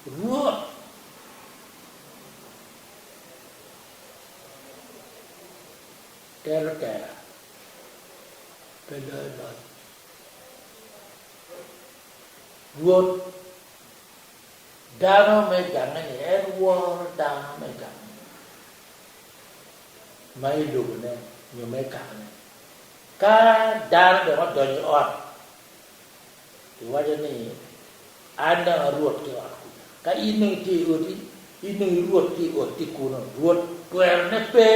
Rwot tero tera, pe loyo loc. Rwot dano me gange-ni, en woro dano me gange ma i lobone nyo me kakane. Ka dano dong odonyo i ot. Iwaco ni, 'An dong a Rwot ki ot kwija. Ka in dong itye i oti, in dong i Rwot ki i otti kunnu. Rwot twerone pe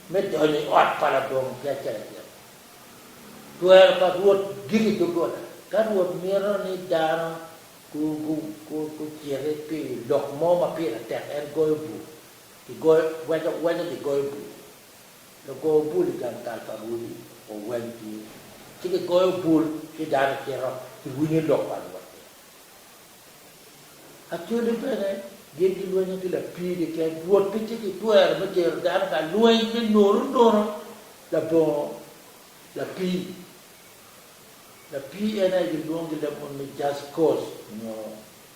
me donyo i ot pa labongo ki acel acel. Twero pa Rwot gik i doggola. Ka Rwot mito ni dano guciti pi lok mo ma pire tek, en goyo bul, weco gigoyo bul. Lugo bul i gang kal pa Rwodi oweng tye, ci gigoyo bul ci dano cito ki winyo lok pa Rwot ni, Acholi bene gin gilwenya ki lapii keken, Rwot pe ci kitwero me tero dano ka lweny me nono nono labongo lapii. Lapii en aye gilwongo gi lemon ni Jackos nyo.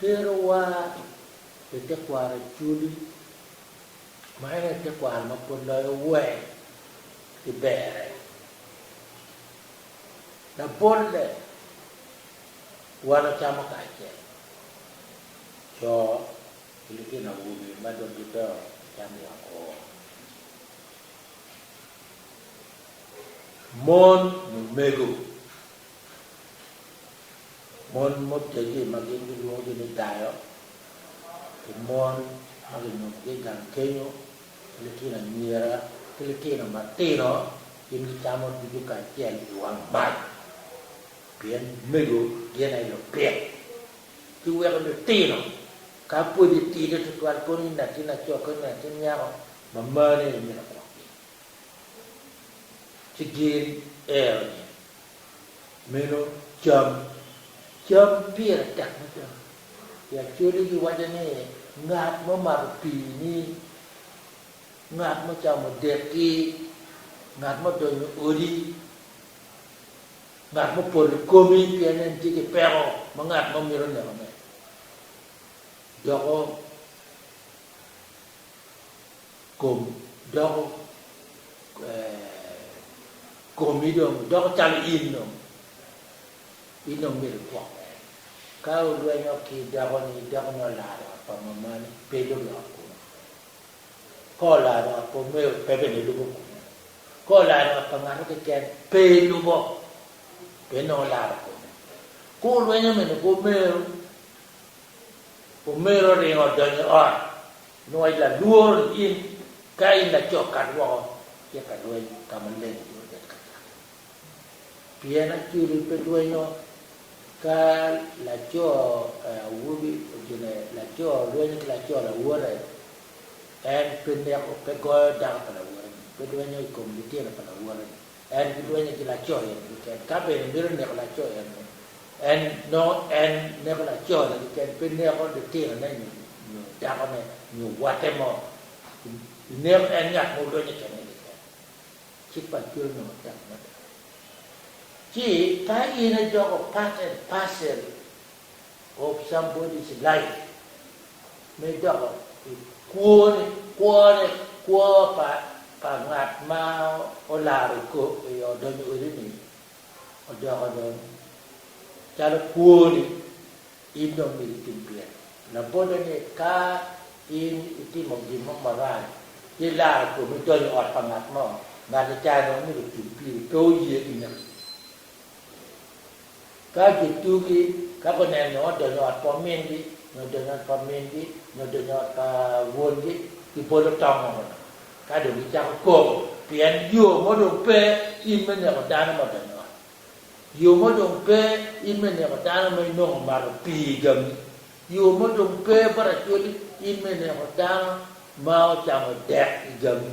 terowa i tekwaro acwli, ma en aye tekwaro ma pwod loyo wer ki berre. Labolle, wan ocamo kacel, co ki litino awobe ma dong gidongo gicamo woko, mon, lumego, mon mutegi ma gin gilwongogi ni dayo ki mon ma ginyubogi i gang kenyo ki litino anyira ki litino matino gin gicamo ducu kacel i wang mac pien mego gin aye lupit. Ki weko litino ka pud gitidi tutwal kono i natin laco ki natin nyako ma marne imito gwokgi ci gin ero ni Meno cam. Cam pire tek me cam. I Acholi giwaco ni ngat ma omato pii ni, ngat ma ocamo dek ki, ngat ma odonyo i odi, ngat ma opol i komi pien en tye ki peko ma ngat mo mito nekone. Doko. kom doko komi dong doko calo in dong in dong myero igwok mere. Ka orwenyo ki dakoni, dakoni olaro ot pa mamane pe lubo i ot kunu. Ka olaro ot pa omego pe bene lubo kunu. Ka olaro ot pa ngato keken pe lubo pien dong olaro kome. Ka orwenyo mene ki omego Omego oringo odonyo i ot, nongo i lalworo ni in ka in laco kat woko itye ka lweny ka maleng nyo obed ka cakki. Pien Acoli pe lwenyo ka laco awobi ocine laco lwenyo ki laco lawote en pe neko pe goyo dako pa lawote ni pe lwenyo i kom litino pa lawote ni. En gidwenye ki laco en keken, ka bene mito neko laco eno, en nongo en neko lacone keken, pe neko litinone nyo nyo dakone nyo watte mo. Pi neko en ngat ma odwenye kene keken, cik pa Acwero nongo tek mada. Ci ka in ijoko part and parcel Ob somebody's life me doko i kwone, kwone, kwo pa pa ngat ma olaro kop i odonyo wedini odoko dong calo kwoni, in dong myero itim pyem labote ni ka in itimo gin mo marac ci ilaro komi idonyo i ot pa ngat mo, ngati ca dong myero otim piri pe oye ki naki. Ka gitugi, ka guneno nyo odonyo ot pa omingi, nyo odonyo ot pa mingi, nyo odonyo ot pa wongi, gibolo tong ongo dong, ka dong gicako koko, pien yo mo dong pe in me neko dano ma odonyo ot. Yo mo dong pe in me neko dano ma inongo omato pii i gangi. Yo mo dong pe buracweli in me neko dano ma ocamo dek i gangi.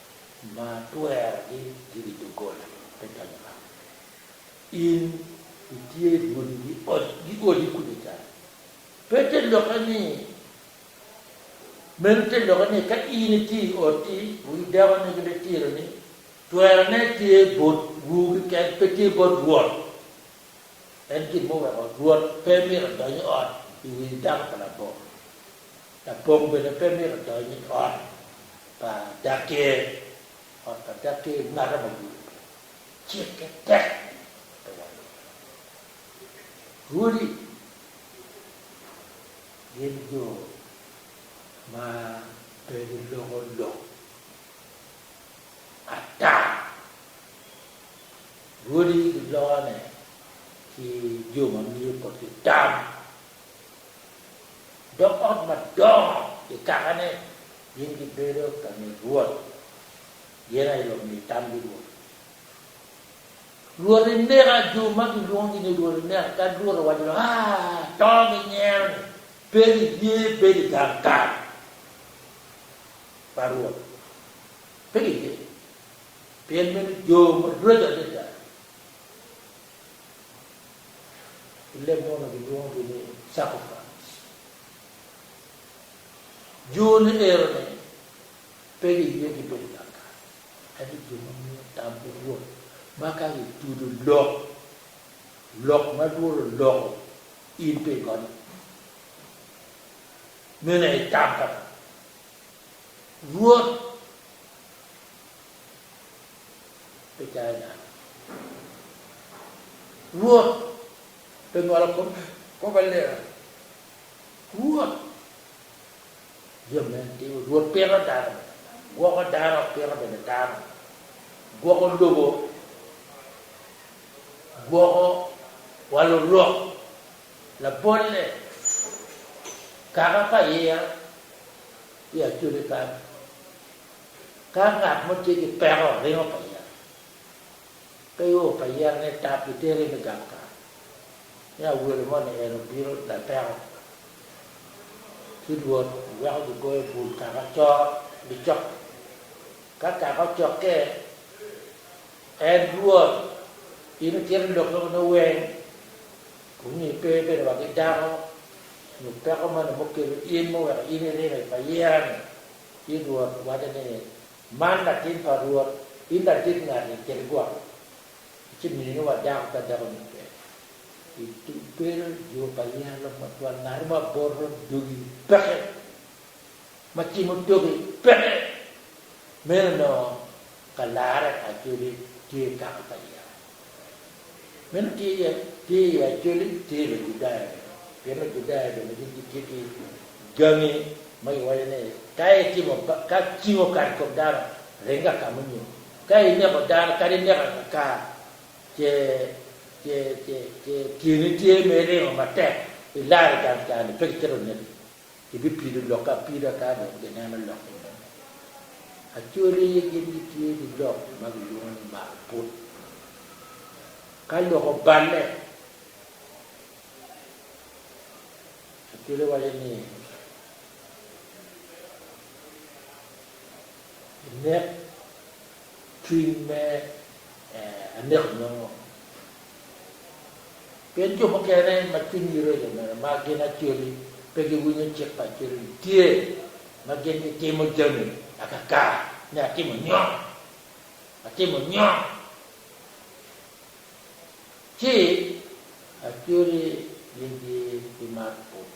ma twerogi ki wi doggola pe donyo ka. In itye i rwodi gi odi kuca ca. Pe te lokke ni, meno te lokke ni ka in itye i otti, wi dakoni ki bene tironi, twerone tye bot wu keken, pe tye bot Rwot. En gin muweko Rwot pe mito dony i ot i wi dako pa labongo. Lapong bene pe myero odony i ot pa dakki, ot pa dakki mato ma gudo piny, cikke tek pe wano pire. Rwodi gin jo ma pe giloko lok ata. Rwodi gilokone ki jo ma miyo botgi tam dog ot madongo i kakane, gin gibedo ka mit Rwot, gin aye lumi tamgi Rwot. Rwot ineka, jo ma gilwongogi ni Rwot ineka, kadi Rwot owaco ni, A! To ginyero-ni, pe giye bedo i gang kal pa Rwot, pe giye, pien meno jo maraco adada. I leb mono gilwongogi ni sacrifice. Joni ero ni pe giye ki bedo gang kany, ento jo ma miyo tam pi Rwot ma ka gitudo lok, lok ma Rwot oloko in pi gonye, meno aye tam pa Rwot. pi cayo dano. Rwot pe ngolo kome kop aleka ki Rwot jami ma en timo. Rwot pito dano bene, gwoko dano, pito bene dano, gwoko lobo, gwoko wa lurok labolle, kaka pa iya, iya code kany. Ka ngat mo tye ki peko ringo pa yat, pe ior pa yat ni tap itere me gang kare, ni awelo mo ni en obino lapeko ki Rwot weko gigoyo bul kaka coro gicokke. Ka kaka ocokke, en Rwot in itito lok meno ni weng, kong ipe bene wa ki dako nyo peko moni mukelo in muweko in irino i payira-ni. Ci Rwot waco ni, Man latin pa Rwot, in ladit ngati kede gwok, ci minu wa dako ka dako ni pe. I tugere jo pa yalo matwal ngati ma boto dogi peke, ma cimo toki peke, meno onongo ka larre pa codi tye kaka pa yalo. Meno tye iye, tye iye Acoli, tye iye Lujudaya bene. Pien Lujudaya bene gin gitye ki gangi ma giwaco ni, ka itimo, ka cing okato i kom dano, ring ka ka munyu. Ka ineko dano, kadi ineko ka ka, ce, ce, ce, ce tyeni tye ma iringo matek, ilar i gang ca-ni, pe kicito oneki. Ibipido lokke apida ka dong gineno lok i ngom. Acwali gin gitye ki lok ma gilwongo ni mako put. Ka lok oballe, acwali waco ni, Inek. cwiny me aneko nongo pien jo mukene ma cwinygi reco mere ma gin Acholi pe giwinyo cik pa Acholi tye ma gin gitimo jami akaka ni atimo nyo atimo nyo ci Acholi gin gibimato pud.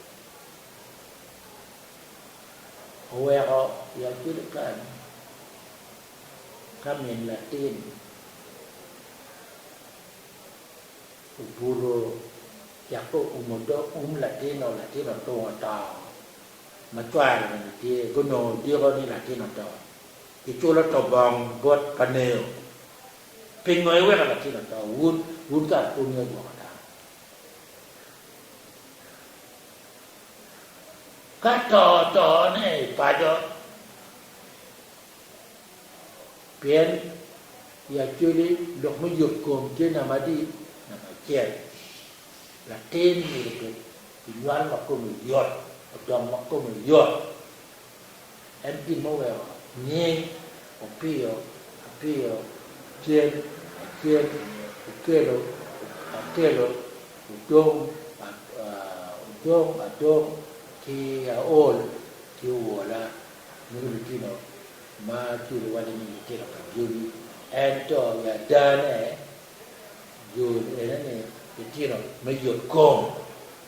oweko yat bedo kany ka min latin obuto cek ka oumo dog um latin-nu latin otungo oto ma cware bene tye gunongo odiko ni latin oto kiculo to bong bot pa neo pingo iweko latin oto wun wun kara pwongi agwoka dano. Ka to tone i paco, pien i actually lok me yub kom tye namba adi? Namba acel. Latin myero obed ki nywal ma kome yot, odong ma kome yot, En gin muweko nying Opiyo Apiyo Cen Acen Okelo Akelo Odong Odong Adong ki Aol ki Owola nying lutino ma ci giwaco ni litino pa jobi ento i adane jo enoni litino me yot kom.